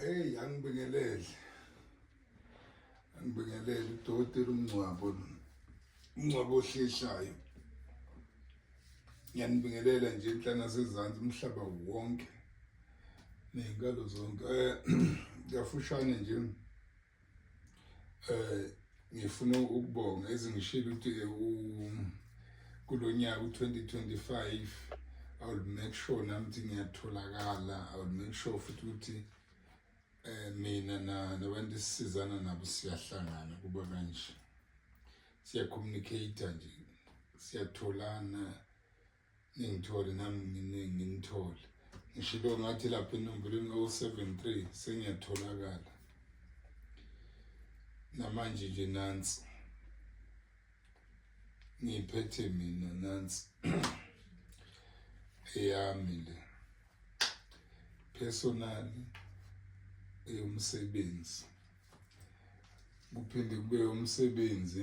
Hey angibingelele. Angibingelele udokotela umngcwabo. Umngcwabo ohlehlisayo. Ngiyanibingelela nje inhlanga sezantsi umhlaba wonke. Nezinkalo zonke. Eh kafushane nje. eh ngifuna ukubonga ezingishilo ukuthi ke kulonyaka u2025 I will make sure nami ukuthi ngiyatholakala I will make sure futhi ukuthi eh mina na nabantu sisizana nabo siyahlangana kuba kanje siya communicate nje siyatholana ningithole nami nginingi nginithole ngisho into ngathi lapha enombolweni o-seven three sengiyatholakala namanje nje nansi ngiyiphethe mina nansi eyami le personal eyomsebenzi kuphinde kube umsebenzi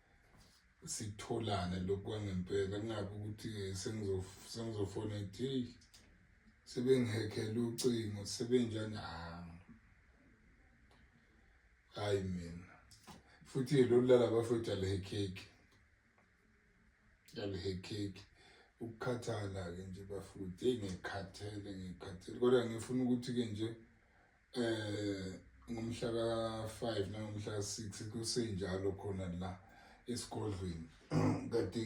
sitholane lokhu kwangempela kungabi ukuthi sengizofona ithi heyi sebengihekhele ucingo sebenjani hayi mina futhi lolu lala bafowethu alihekheki alihekheki ukukhathala-ke nje bafowethu eyi ngikhathele ngikhathele kodwa ngifuna ukuthi-ke nje eh ngomhla ka-5 nangomhla ka-6 kusenjalo khona la esigodlweni kade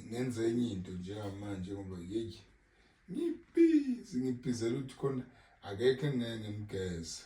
ngenze enye into njengamanje ngoba yeyi ngibhizi ngibhizela ukuthi khona akekho engeke ngimgeza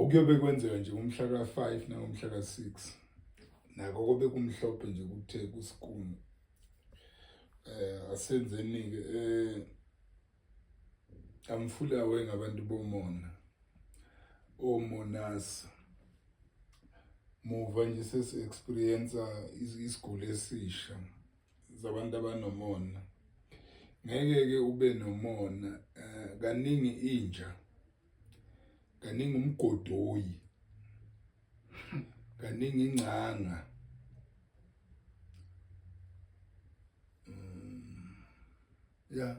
okuyobe kwenzeka nje ngomhla ka-5 nangomhla ka-6 nako kobe kumhlophe nje kuthe kusikhulu eh asenzeni-ke eh amfule awe ngabantu bomona omonasa muva nje sesi-experiensa isiguli esisha zabantu abanomona ngeke ke ube nomona eh, kaningi inja kaningi umgodoyi kaningi ingcanga mm, ya yeah.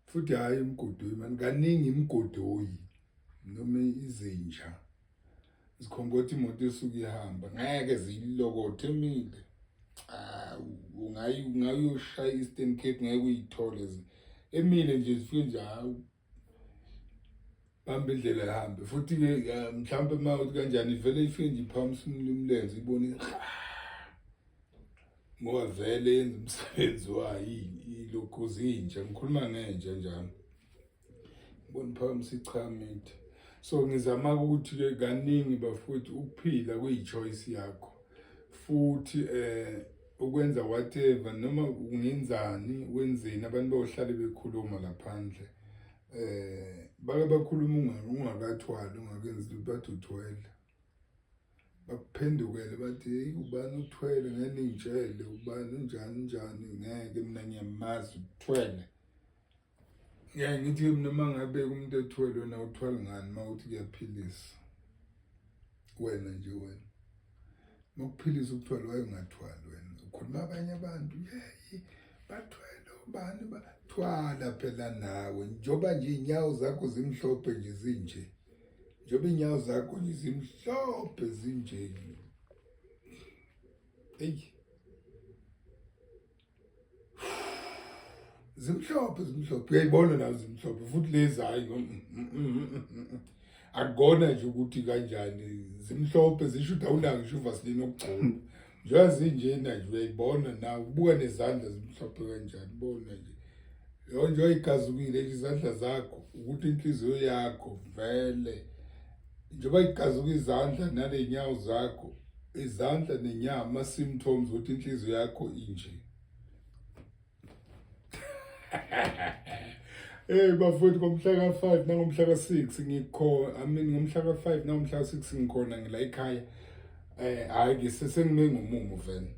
futhi hhayi umgodoyi mani kaningi imgodoyi noma izinja zikhonkothi imoto esuke ihamba ngeke ziyilokothe emile ungayoshaya i-eastern cape ngeke uyithole emile nje zifike nje hawu bamba indlela ihambe futhi ke mhlawumbe uma uthi kanjani ivele ifike nje iphamisa umlenze ibone ngoba vele yenza umsebenzi wayo ilokhu zintsha ngikhuluma ngentsha njalo ngibona phamisa ichamithi so ngizama ukuthi ke kaningi bafowethu ukuphila kuyi-choice yakho futhi um ukwenza whatever noma ungenzani wenzeni abantu bayohlale bekhuluma laphandle eh bake bakhuluma ungakathwali ungakenzi bathi uthwele bakuphendukele bathi hey ubani uthwele ngenintshele ubani unjani njani ngeke mina ngiyamazi ukuthwele ngeke ngithi noma ngabe umuntu ethwele na uthwala ngani mawuthi kuyaphilisa wena nje wena nokuphilisa ukuthwala wayengathwali wena ukhuluma abanye abantu yeyi bathwele ubani bathwala phela nawe njengoba nje iy'nyawo zakho zimhlophe nje zinje njengoba iy'nyawo zakho nje zimhlophe zinje eyi zimhlophe zimhlophe uyayibona nazo zimhlophe futhi lezi hayi mm, mm, mm, akukona nje ukuthi kanjani zimhlophe zisho ukuthi awunako ngisho uvasilini okugcoba njengoba zinjena nje uyayibona nawe ubuka nezandla zimhlophe kanjani bona nje yonje oyigazukile izandla zakho ukuthi inhliziyo yakho vele njengoba igazuka izandla naley'nyawo zakho izandla nenyama ama-symptoms ukuthi inhliziyo yakho inje Hey bafowethu ngomhla ka-5 nangomhla ka-6 ngikhona I mean ngomhla ka-5 nangomhla ka-6 ngikhona ngila ekhaya eh hayi ke sesengime ngomumo vele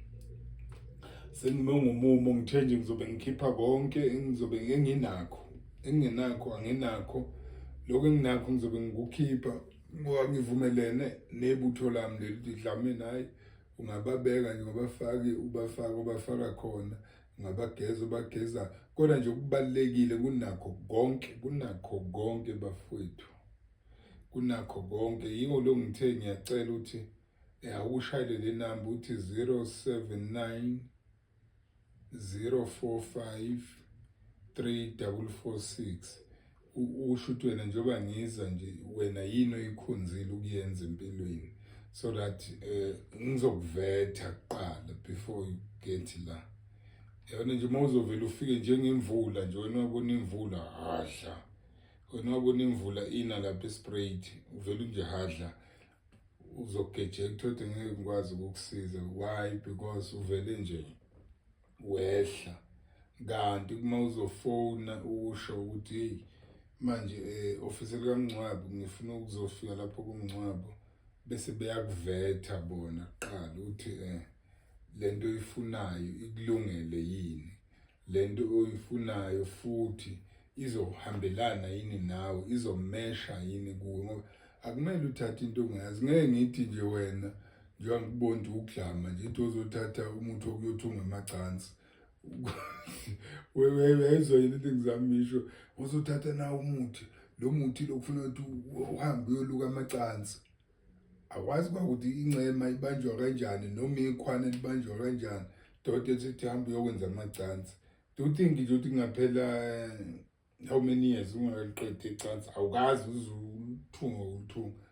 sengime ngomumo ngithe nje ngizobe ngikhipha konke engizobe enginakho engingenakho anginakho lokho enginakho ngizobe ngikukhipha ngoba ngivumelene nebutho lami leli didlame naye ungababeka nje ngobafaki ubafaka ubafaka khona ngabageza ubageza kodwa nje okubalekile kunakho konke kunakho konke bafowethu kunakho konke yiko lo ngithe ngiyacela ukuthi eh, awushayele le number uthi 079 045 3446 usho ukuthi wena njengoba ngiza nje wena yini oyikhonzile ukuyenza empilweni so that eh, ngizokuvetha kuqala before you get la yabona nje uma uzovele ufike njengemvula nje wena wabona imvula hadla wena wabona imvula ina lapha esprayt uvele unje hadla uzogejeka uthode ngeke ngikwazi ukukusiza why because uvele nje wehla kanti uma uzofona usho ukuthi hey manje eh, ofisi likamngcwabo ngifuna ukuzofika lapho kumngcwabo bese beyakuvetha bona kuqala ukuthi eh lento ifunayo ikulungele yini lento oyifunayo futhi izohambelana yini nawe izomesha yini kuwe ngoba akumele uthathe into ongayazi ngeke ngithi nje wena njengoba ngikubona ukuthi ukudlama nje into ozothatha umuntu okuyothi ungemacansi wewewezoyini into engizamisho uzothatha nawo umuthi lo muthi lokufuna ukuthi uhambe uyoluka amacansi akwazi kwakuthi incema ibanjwa kanjani noma ikhwana libanjwa kanjani doda ethi hamba uyokwenza amacansi do you think nje ukuthi kungaphela eh, how many years ungakaliqedi icansi awukazi uzuthunga uthunga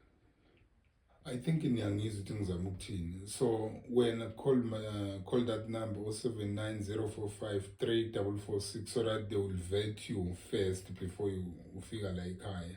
i think niyangizwa ukuthi ngizama ukuthini so wena call, my, uh, call that number o-790453446 so that they will vet you first before you ufika la ekhaya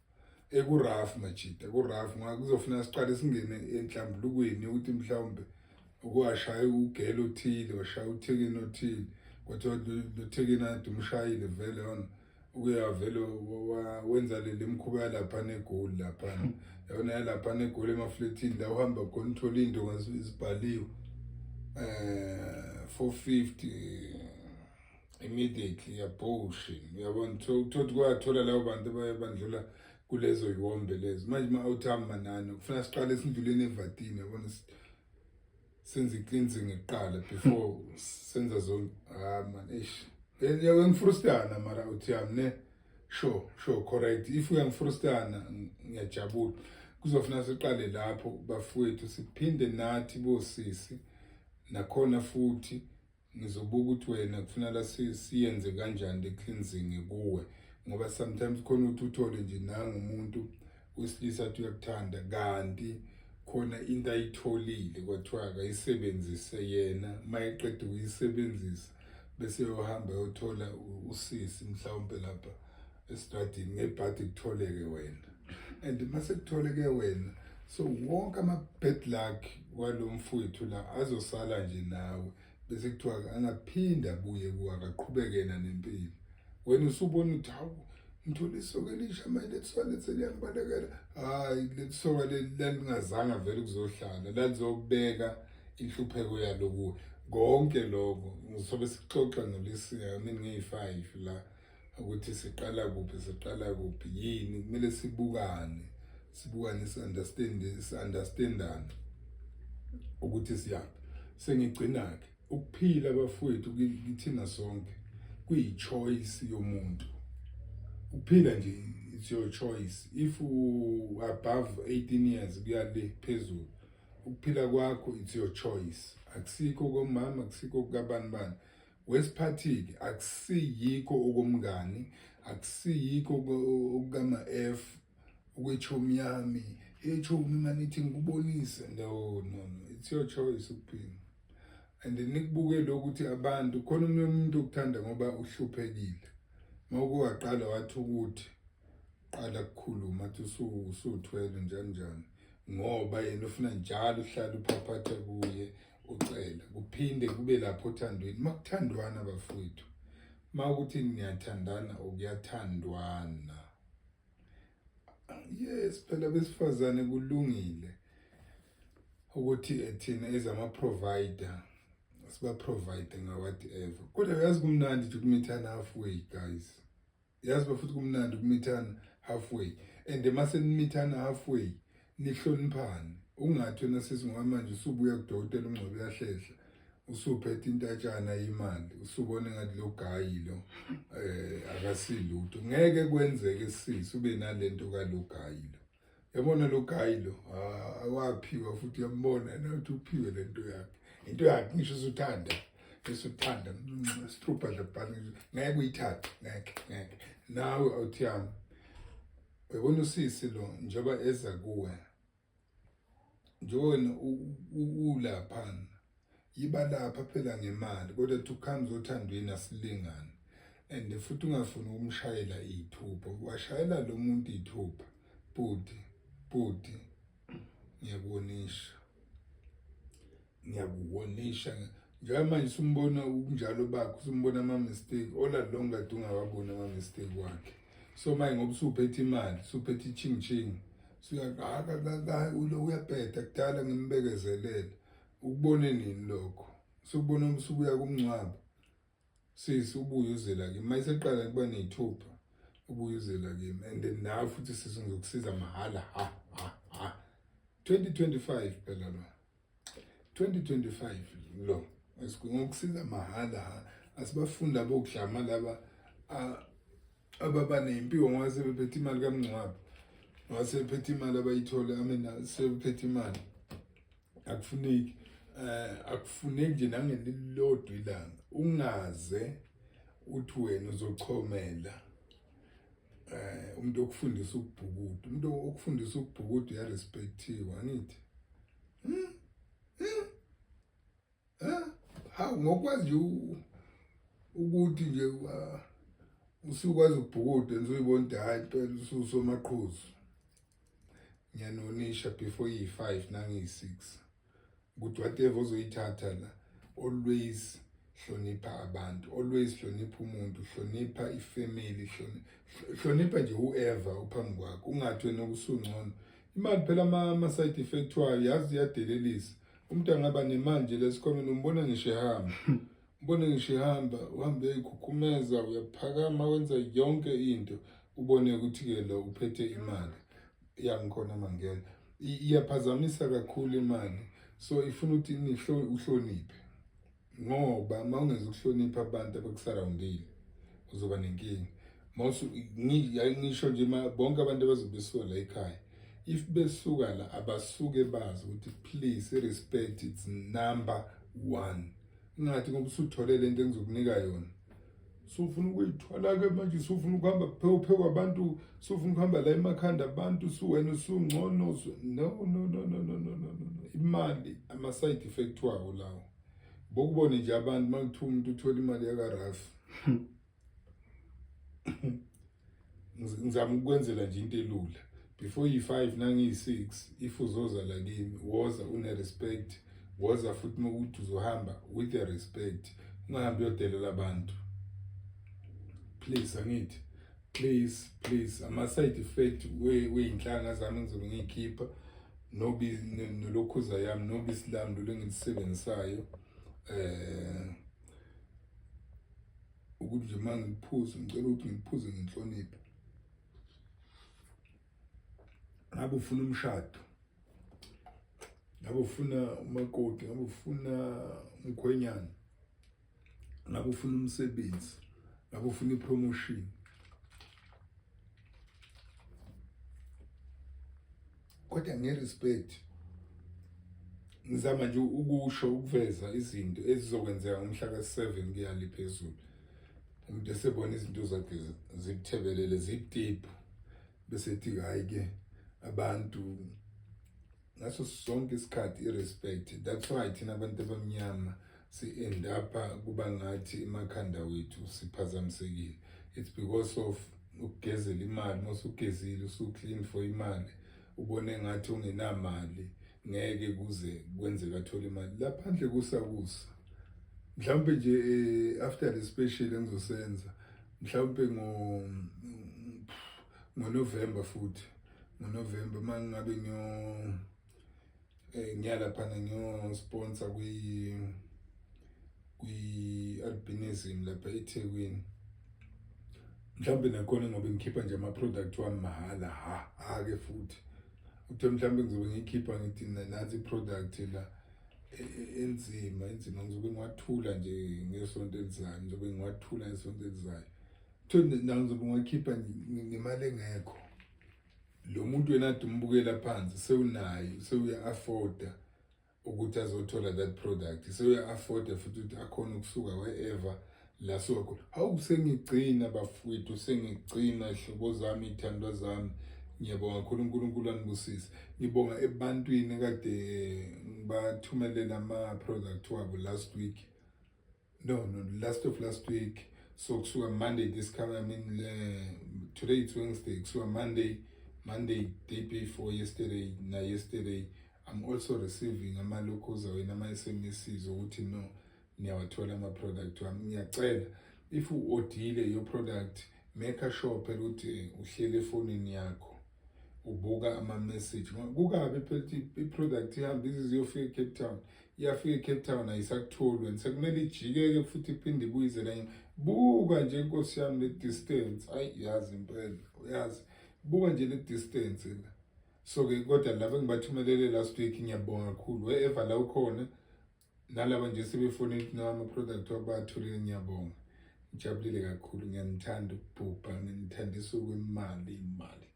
ekurafu majita kurafu ngoba kuzofuneka siqale singene enhlambulukweni ukuthi mhlawumbe ukuwashaya ugela othile washaya uthekeni othile kwathiwa lothekeni ade umshayile vele yona ukuyavele wenza leli mkhuba yalaphana egoli laphana yabona yalaphana egoli emafletini la uhamba khona uthole into zibhaliwe um eh, four fifty immediately yabullshit uyabona so uthothi kwathola labo bantu abaye bandlula kulezo yiwombe lezo manje ma-outcome manani kufuna siqale sindluleni evatini yabona senze i-cleansing kuqala before senza zonke ah man eish uyangifrustana mara uthi yami ne sure sure correct if uyangifrustana ngiyajabula kuzofuna siqale lapho bafowethu siphinde nathi bosisi nakhona futhi ngizobuka ukuthi wena kufanele siyenze kanjani le cleansing kuwe ngoba sometimes khona ukuthi uthole nje nangu umuntu usilisa athi uyakuthanda kanti khona into ayitholile kwathiwa akayisebenzise yena uma eqeda ukuyisebenzisa bese yohamba yothola usisi mhlawumpe lapha esitradini ngebhadi kutholeke wena and uma sekutholeke wena so wonke ama-bad luck walo mfowethu la azosala nje nawe bese kuthiwa angaphinde abuye kuwe akaqhubekena nempilo wena usubona ukuthi hawu ngithole isoka elisha manje lelisoka lethe liyangibalekela hhayi lelisoka leli lalingazanga vele kuzohlala lalizokubeka inhlupheko yalo kuwe konke lokho ngisobe sixoxa nolisiya mina ngiyi-five la ukuthi siqala kuphi siqala kuphi yini kumele sibukane sibukane si-understand si-understandane ukuthi siyaphi sengigcina-ke ukuphila bafowethu kithina sonke kuyi-choice yomuntu ukuphila nje it's your choice if u above 18 years kuya le phezulu ukuphila kwakho it's your choice akusikho komama akusikho kukabani bani wesiphathiki akusiyikho okomngani akusiyikho okukama F ukwechomi yami echomi manithi ngikubonise no no no it's your choice ukuphila and nikubuke lokuthi abantu khona umunye umuntu okuthanda ngoba uhluphekile mawukuwaqala wathi ukuthi qala kukhuluma athi usuthwele njani njani ngoba yena ufuna njalo uhlala uphaphathe kuye ucela kuphinde kube lapho othandweni makuthandwana bafowethu mawukuthi niyathandana okuyathandwana yes phela besifazane kulungile ukuthi thina ezama provider siba provide nga whatever kodwa yazi kumnandi ukuthi kumithana halfway guys yazi bafuthi kumnandi ukumithana halfway and mase nimithana halfway nihloniphane ungathi wena sisi ngoba manje usubuya kudokotela ungcobe uyahlehla usuphethe intatshana imali usubone ngathi lo gayi lo eh akasilutho ngeke kwenzeke sisi ube nalento ka lo gayi lo yabona lo guy lo ah, awaphiwa futhi uyambona yena ukuthi uphiwe le nto yakhe into yakhe ngisho usuthanda esuthanda strupha nje bhani ngeke uyithathe ngeke ngeke nawe awuthi yami uyabona usisi lo njengoba eza kuwe njona ulapha yiba lapha phela ngemali kodwa to comes othandweni asilingani and futhi ungafuni ukumshayela iy'thupha washayela lo muntu iy'thupha bhuti bhuti ngiyakuwonisha ngiyakuwonisha njengoba manje sumbona ubunjalo bakho sumbona ama-mistake all along kade ungawaboni ama-mistake wakhe so manje ngoba usuphethe imali usuphethe i-ching ching suyaqaka uyabheda kudala ngimbekezelele ukubone nini lokho sokubona ubusuku uya kumngcwabo sisi ubuyuzela kimi uma iseqala kuba neyithupha ubuyuzela kimi and then nawe futhi sisi ngizokusiza mahhala ha ha ha 2025 phela lo 2025 lo esikusiza mahhala ha asibafundi abokudlama laba ababa nempiwo ngoba sebephethe imali kamngcwabo ngoba sebephethe imali abayithole amena sebephethe imali akufuneki eh akufuneki nje nangelilodwa ilanga ungaze uthi wena uzochomela eh umuntu okufundisa ukubhukuda umuntu okufundisa ukubhukuda uyarespectiwa angithi hmm? hawu ngokwazi nje ukuthi nje usukwazi ukubhukuda nizoyibona ukuthi hhayi impela ususomaqhuzu ngiyanonisha before iyi-five nangiyi-six ukuthi whatever ozoyithatha la always hlonipha abantu always hlonipha umuntu hlonipha ifamily hlonipha nje whoever uphambi kwakho ungathi wena kusungcono imali phela ama-side effect wayo yazi iyadelelisa Umuntu angaba nemanje lesikhona umbona ngisho ehamba. Umbona ngisho ehamba, uhamba uyayikhukhumeza, uyaphakama wenza yonke into. Ubone ukuthi ke lo uphethe imali. Yangikhona mangena. Iyaphazamisa kakhulu imali. So ifuna ukuthi nihloniphe. ngoba uma ungezukuhlonipha abantu abakusarawundile uzoba nenkinga mawusu ngisho nje bonke abantu abazobesuka la ekhaya if besuka la abasuke bazi ukuthi please respect it's number one ingathi ngoba usuthole lento engizokunika yona sufuna ukuyithola-ke manje sufuna ukuhamba kuphewuphe kwabantu sufuna ukuhamba la emakhanda abantu suwena usungcono no no no no no no no no imali ama-side effect wawo lawo bokubone nje abantu uma kuthiwa umuntu uthola imali yakarafi ngizama ukwenzela nje into elula before yi-five nangiyi-six if uzoza la kimi woza une-respect woza futhi uma ukuthi uzohamba with a respect ungahambi uyodelela abantu please angithi please please ama-side effect weyinhlanga zami engizobe ngiyikhipha nolokhuza yami nobisi lami lolu engilisebenzisayo um eh, ukuthi nje uma ngiphuze ngicela ukuthi ngiphuze ngenhlonipho ngabe ufuna umshado ngabe ufuna umakoti ngabe ufuna umkhwenyana ngabe ufuna umsebenzi ngabe ufuna ipromotion kodwa ngerespect ngizama nje ukusho ukuveza izinto ezizokwenzeka ngomhla ka-7 kuyali phezulu umuntu esebona izinto zakhe zikuthebelele zidiphu bese thi hhayi-ke abantu ngaso sonke isikhathi i-respect that's why thina abantu abamnyama si-end up kuba ngathi imakhanda wethu siphazamisekile it's because of ukugezela imali mosugezile usuclean for imali ubone ngathi ungenamali ngeke kuze kwenzeka thola imali laphandle kusakusa mhlawumbe nje eh, after the special engizosenza mhlawumbe ngo ngoNovember futhi ngoNovember mangabe ngiyo Eh ngiyalaphana ngiyo sponsor kwi kwi albinism lapha eThekwini. Mhlambe nakhona ngoba ngikhipha nje ama product wami mahala ha ake futhi. Uthe mhlambe ngizobe ngikhipha ngithi nathi product la enzima enzima ngizobe ngiwathula nje ngesonto elizayo ngizobe ngiwathula ngesonto elizayo. Kuthiwa nangizobe ngiwakhipha ngemali engekho. lo muntu wena ade umbukela phansi sewunayo sewuya-afforda ukuthi azothola that product sewuya-afforda futhi ukuthi akhona ukusuka wherever la sokho hawu sengigcina bafowethu sengigcina hlobo zami iy'thandwa zami ngiyabonga khulu unkulunkulu anibusise ngibonga ebantwini kade ngibathumelela ama-product wabo last week No, no, last of last week. So kusuka Monday this coming, I mean uh, today it's Wednesday. Kusuka Monday, Monday day before yesterday, na yesterday I'm also receiving ama locals awena ama SMSs ukuthi no niyawathola ama product wami ngiyacela if u odile your product make sure phela ukuthi uhlele efonini yakho ubuka ama message kukabi phela i product ihamba iziyofika eCape Town iyafika eCape Town ayisakutholwe and sekumele ijikeke futhi iphinde ibuyize lenye buka nje inkosi yami le distance ayi yazi impela uyazi buka nje le distance la so ke kodwa laba engibathumelele last week ngiyabonga kakhulu wherever la ukhona nalaba nje sebefuna ukuthi nawo ama-product wabo bawathole ngiyabonga ngijabulile kakhulu ngiyanithanda ukubhubha nginithandisa ukwemali imali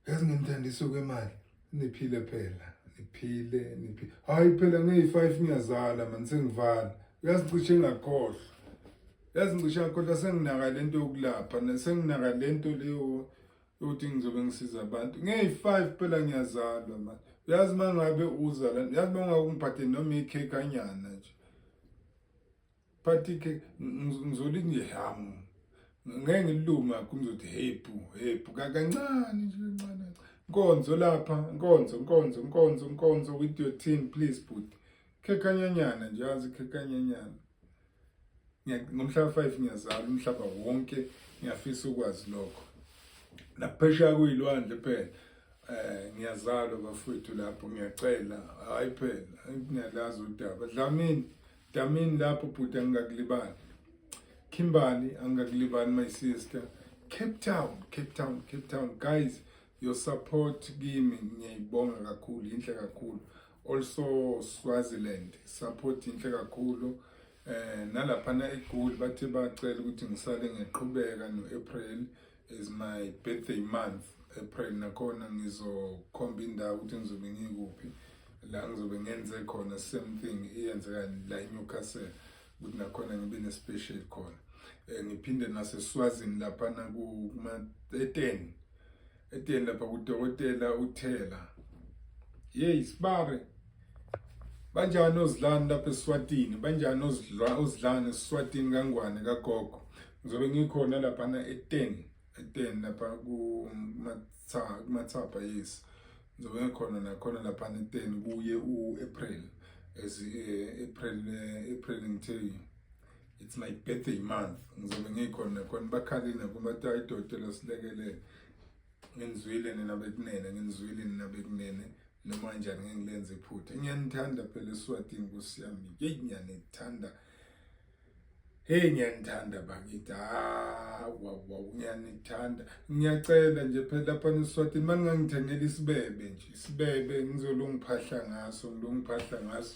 yazi nginithandisa ukwemali niphile phela niphile niphile hhayi phela ngeyi-five ngiyazala mani sengivala yazi ngicishe ngakhohlwa yazi ngicishe ngakhohlwa senginaka le nto yokulapha senginaka le nto leyo ukuthi ngizobe ngisiza abantu ngeyi-five phela ngiyazalwa manje uyazi uma ngabe uzala uyazi uma ngabe ungiphathe noma ikhekanyana nje phathi ke ngizoli nje hamu ngeke ngilume akho ngizothi hepu hepu kakancane nje kancane nkonzo lapha nkonzo nkonzo nkonzo nkonzo with your team please bhuti khekanyanyana nje yazi khekanyanyana ngomhlaba 5 ngiyazala umhlaba wonke ngiyafisa ukwazi lokho naphesheya kuyilwandle phela eh ngiyazalwa bafowethu lapho ngiyacela hayi phela ngiyalazi udaba dlamini dlamini lapho bhuti angingakulibali Kimberly angakulibani my sister Cape Town Cape Town Cape Town guys your support kimi ngiyayibonga kakhulu inhle kakhulu also Swaziland support inhle kakhulu eh nalaphana eGoli bathi bacela ukuthi ngisale ngiqhubeka noApril is my birthday month April nakhona ngizokhomba indawo ukuthi ngizobe ngikuphi la ngizobe ngenze khona same thing iyenzeka la eNewcastle ukuthi nakhona ngibe nespecial khona eh ngiphinde naseSwazini lapha na ku 10 Eteni lapha kudokotela uthela. Yey sibare. Banjani ozilani lapha eSwatini? Banjani ozidla ozilani eSwatini kangwane kagogo? Ngizobe ngikhona lapha na e10 e10 lapha ku matha mathapha yes. Ngizobe ngikhona nakhona lapha ne10 kuye uApril as eh, April eh, April ngithe it's my birthday month ngizobe ngikhona khona bakhalina kuma tayidotelo silekelele ngenzwile nina bekunene ngenzwile nina bekunene noma njani ngeke ngilenze iphutha ngiyanithanda phela eswatini kusiyami hey ngiyanithanda hey ngiyanithanda bakithi hawa ngiyanithanda ngiyacela nje phela lapha eswatini maningangithengela isibebe nje isibebe ngizolungiphahla ngaso ngilungiphahla ngaso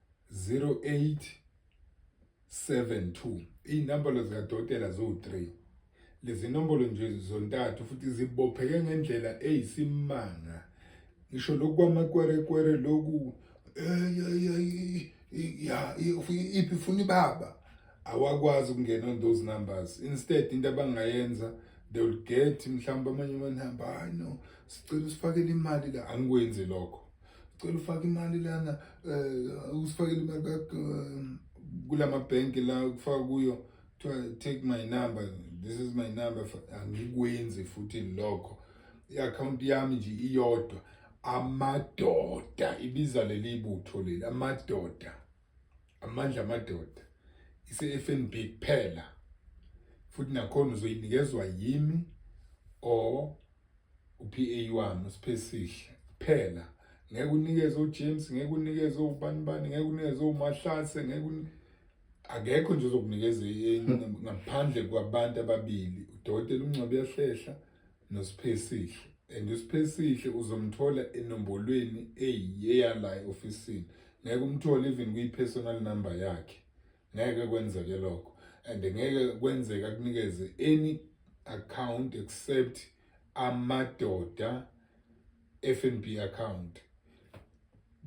0872 iy'nombolo zikadokotela ziwu-3 lezi nombolo nje zontathu futhi zibopheke ngendlela eyisimanga ngisho lokhu kwamakwerekwere lokhu iphi funa ibaba awakwazi ukungena on those numbers instead into abangayenza they will get mhlawumbe amanye amanamba hayi no sicela usifakele imali la angikwenzi lokho cela ufake imali lana um usifakele imali eh, kula mabhenki la kufaka kuyo kuthiwa take my number this is my number angikwenzi futhi lokho i-akhawunti yami nje iyodwa amadoda ibiza leli butho leli amadoda amandla amadoda ise-FNB kuphela futhi nakhona uzoyinikezwa yimi or uPA wami uSiphesihle kuphela ngeke unikeze uJames ngeke unikeze ubani bani ngeke unikeze uMahlase ngeke akekho nje uzokunikeza ngaphandle kwabantu ababili udokotela uNgcobo yahlehla noSiphesihle and uSiphesihle uzomthola enombolweni eyala eofisini ngeke umthole even kwi-personal number yakhe ngeke kwenzeke lokho and ngeke kwenzeka kunikeze any account except amadoda FNB account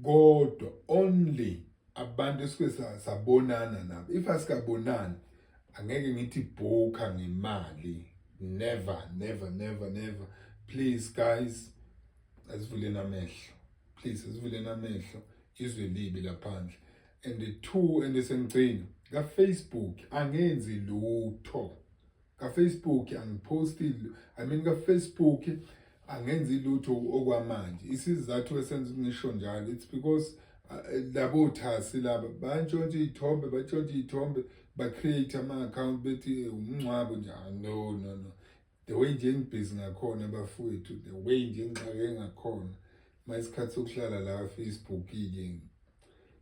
kodwa only abantu esike sabonana nabo if asikabonani angeke ngithi bhokha ngemali never never never never please guys asivuleni amehlo please asivuleni amehlo izwe libi laphandle and the two and esengcina ka Facebook angenzi lutho kafacebook angiphosti i mean kafacebook angenzi lutho okwamanje isizathu esenza ngisho njalo it's because uh, labo thasi laba bantshontsha iy'thombe batshontsha iy'thombe ba-create ama-account bethi eh, umngcwabo nje ah, no no no the way nje engibhizi ngakhona bafowethu the way nje ngixake ngakhona uma isikhathi sokuhlala la facebook-ke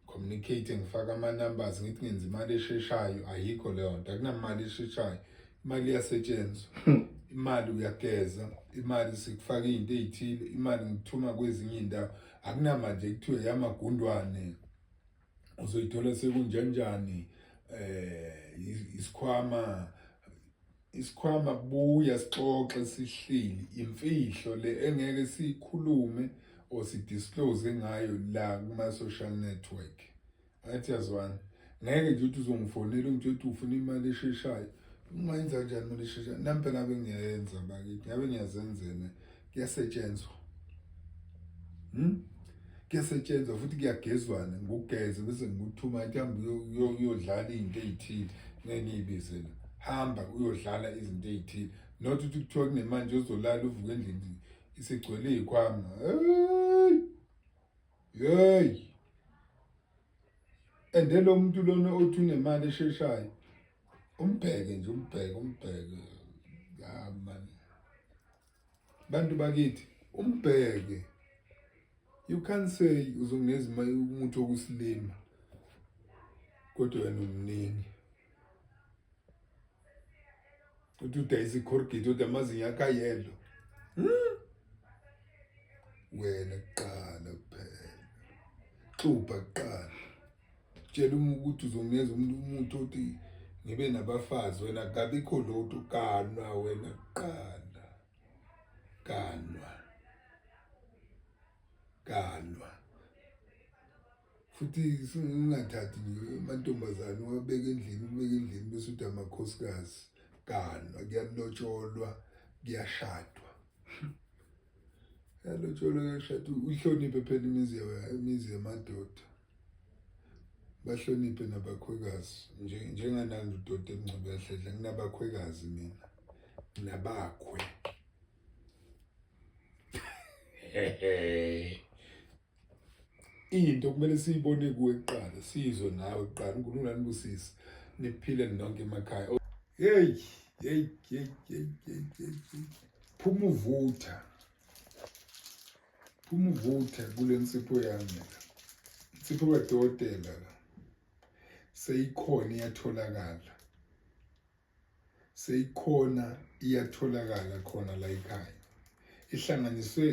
communicate ngifaka ama numbers ngithi ngenza imali esheshayo ayikho leyo nto akunamali esheshayo imali iyasetshenzwa hmm. imali uyageza imali sikufaka izinto ezithile imali ngithuma kwezinye indawo akunama nje kuthiwe yamagundwane uzoyithola sekunjanjani eh isikhwama Isikhwama buya sixoxe sihleli imfihlo le engeke siyikhulume or sidisclose ngayo la kuma social network. Athi yazwana. Ngeke nje uthi uzongifonela uthi uthi ufuna imali esheshayo. Ungayenza kanjani imali esheshayo? Nami phela ngabe ngiyayenza bakithi, ngabe ngiyazenzela. kuyasetshenzwa hmm? kuyasetshenzwa futhi kuyagezwana ngokugeza bese ngikuthuma athi hambe uyodlala izinto ezithile ngeniyibizela hamba uyodlala izinto ezithile not ukuthi kuthiwa kunemanje ozolala uvuke endlini isigcwele izikhwama hey hey and lo muntu lona othi unemali esheshayo umbheke nje umbheke umbheke ya man bantu bakithi umbheke you can't say uzongenza umuntu okusilima kodwa wena umningi uthi udayisa icorgate uthi amazinyo akayelo hmm? wena kuqala kuphela xuba kuqala tshela uma ukuthi uzomyeza umuntu umuntu othi ngibe nabafazi wena kabikho lotho kanwa wena kuqala kanwa kanwa futhi ungathathi amantombazane uwabeke endlini ubeke endlini bese uthi amakhosikazi kanwa kuyalotsholwa kuyashadwa yalotsholwa kuyashadwa uhloniphe phela imizi yamadoda bahloniphe nabakhwekazi njenganani udoti emngcwabe yahledla nginabakhwekazi mina nginabakhwe into kumele siyibone kuwe kuqala sizwe nawe kuqala unkulunkulu anibusise niphile nonke emakhaya yeyi yeyi yeyi yeyi phuma uvutha phuma uvuthe kule nsipho yami la nsipho kadokotela la seyikhona iyatholakala seyikhona iyatholakala khona la ekhaya ihlanganiswe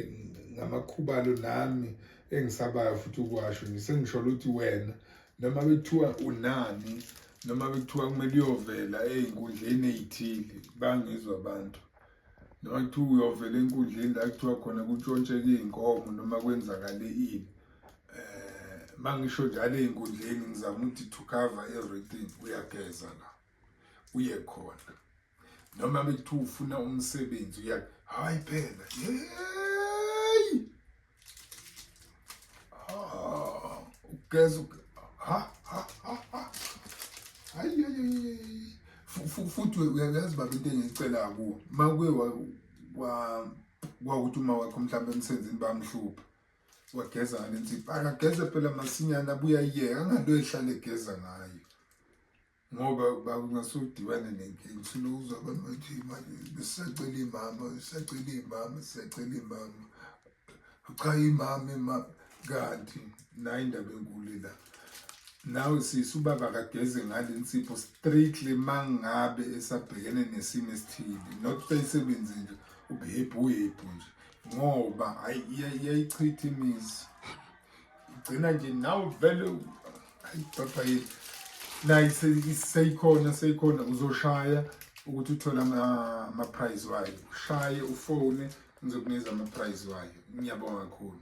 ngamakhubalo nami engisabayo futhi ukwasho ngisengisholo ukuthi wena noma bethiwa unani noma bekuthiwa kumele uyovela ezinkundleni ezithile bangizwa abantu Nakuthiwa uyovela enkundleni la kuthiwa khona kuntshontsheke iy'nkomo noma kwenzakale ini um uma ngisho njalo ey'nkundleni ngizama ukuthi to cover everything uyageza la uye khona noma bekuthiwa ufuna umsebenzi uya hhayi phela yeah. Ah, o caso. Ah, ah, ah, ah. Ai, ai, ai, ai. Futhi uyazi baba into engiyicela kuwo. Uma kuye wa kwawuthi uma wakho mhlawumbe emsebenzini bamhlupha. Wageza ngale nsipho. Akageze phela masinyane abuye ayiyeke angalwe ehlale egeza ngayo. ngoba bakungasudibane nenkinga usuloku uzwa abantu bathi manje besisacela imama besisacela imama sisacela imama cha imama imama kanti nayo indaba enkulu la nawe sisi ubaba akageze ngale nsipho strictly mangabe esabhekene nesimo esithile not beyisebenzi nje ubhebhu yebhu nje ngoba iyayichitha imizi gcina nje nawe vele ayibhabha yini naye seyikhona seyikhona uzoshaya ukuthi uthole ama-prize wayo ushaye ufone ngizokunikeza ama-prize wayo ngiyabonga kakhulu